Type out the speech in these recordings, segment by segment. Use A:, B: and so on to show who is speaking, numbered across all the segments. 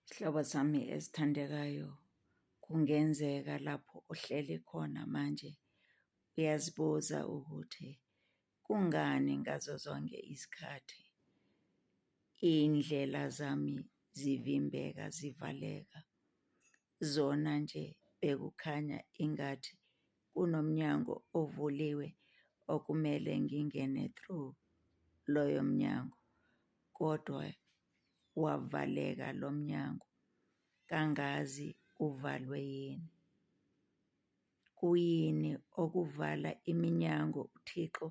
A: Sihlobo sami esithandekayo, kungenzeka lapho uhleli khona manje uyazibuza ukuthi kungani ngazo zonke izikhathi iy'ndlela zami zivimbeka zivaleka. zona nje bekukhanya ingathi kunomnyango ovuliwe okumele ngingene through loyo mnyango kodwa wavaleka lo mnyango, kangazi uvalwe yini. Kuyini okuvala iminyango uThixo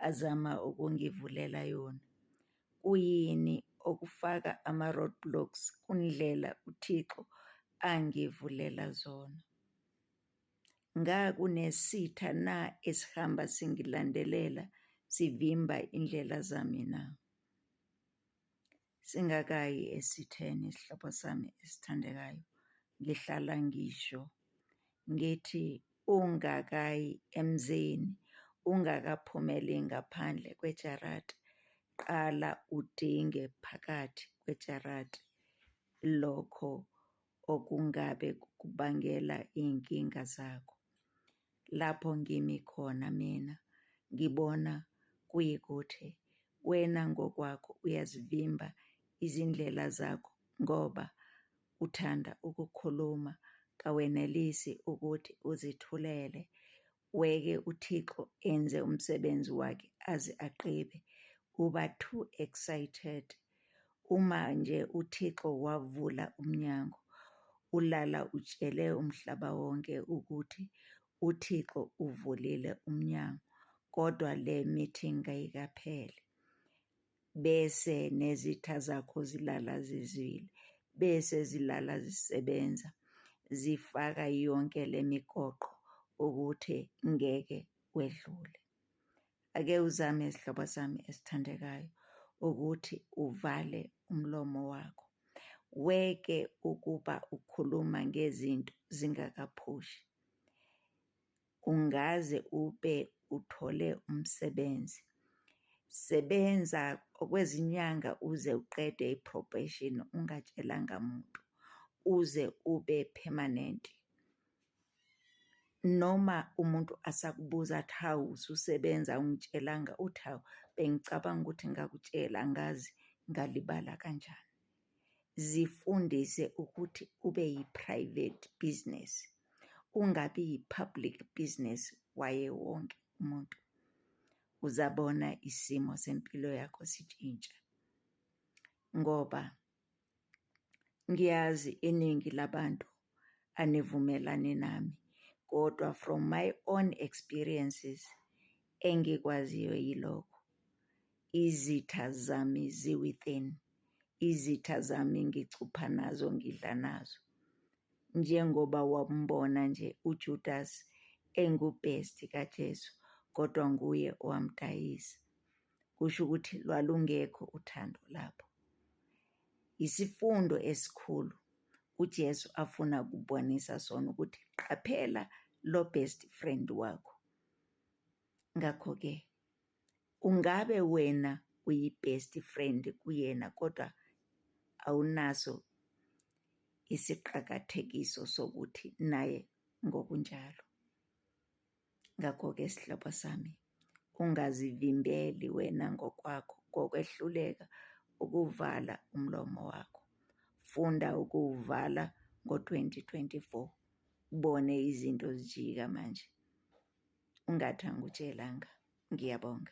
A: azama ukungivulela yona? Kuyini okufaka ama-roadblocks kundlela uThixo angivulela zona? Ngakunesitha na esihamba singilandelela sivimba indlela zami na? Singakayi esitheni isihlobo sami esithandekayo ngihlala ngisho ngithi ungakayi emzini ungakaphumeli ngaphandle kwejarati qala udinge phakathi kwejarati lokho okungabe kukubangela iy'nkinga zakho. Lapho ngimi khona mina ngibona kuyikuthi wena ngokwakho uyazivimba izindlela zakho ngoba uthanda ukukhuluma kawenelisi ukuthi uzithulele, Weke uThixo enze umsebenzi wakhe aze aqede. Uba too excited uma nje uThixo wavula umnyango. Ulala utshele umhlaba wonke ukuthi uThixo uvulile umnyango kodwa le meeting kayikaphele. bese nezitha zakho zilala zizwile, bese zilala zisebenza zifaka yonke le migoqo ukuthi ngeke kwedlule. Ake uzame sihlobo sami esithandekayo ukuthi uvale umlomo wakho, weke ukuba ukhuluma ngezinto zingakaphushi. ungaze ube uthole umsebenzi. Sebenza okwezinyanga uze uqede i-probation ungatshelanga muntu uze ube permanent. Noma umuntu asakubuza athi hawu ususebenza awungitshelanga uthi hawu bengicabanga ukuthi ngakutshela angazi ngalibala kanjani. zifundise ukuthi ube yi-private business, ungabi yi-public business waye wonke umuntu. Uzabona isimo sempilo yakho sitshintsha ngoba ngiyazi iningi labantu anivumelani nami kodwa from my own experiences engikwaziyo yilokho. Izitha zami zi-within, izitha zami ngicupha nazo ngidla nazo. Njengoba wambona nje uJudas engubhesti kaJesu kodwa nguye owamdayisa. Kusho ukuthi lwalungekho uthando lapho. Isifundo esikhulu uJesu afuna kubonisa sona ukuthi qaphela lo best friend wakho. Ngakho-ke Ungabe wena uyi best friend kuyena kodwa awunaso isiqakathekiso sokuthi naye ngokunjalo. Ngakho-ke sihlobo sami, ungazivimbeli wena ngokwakho ngokwehluleka ukuvala umlomo wakho. Funda ukuwuvala ngo-2024 ubone izinto zijika manje, ungathi angikutshelanga. Ngiyabonga.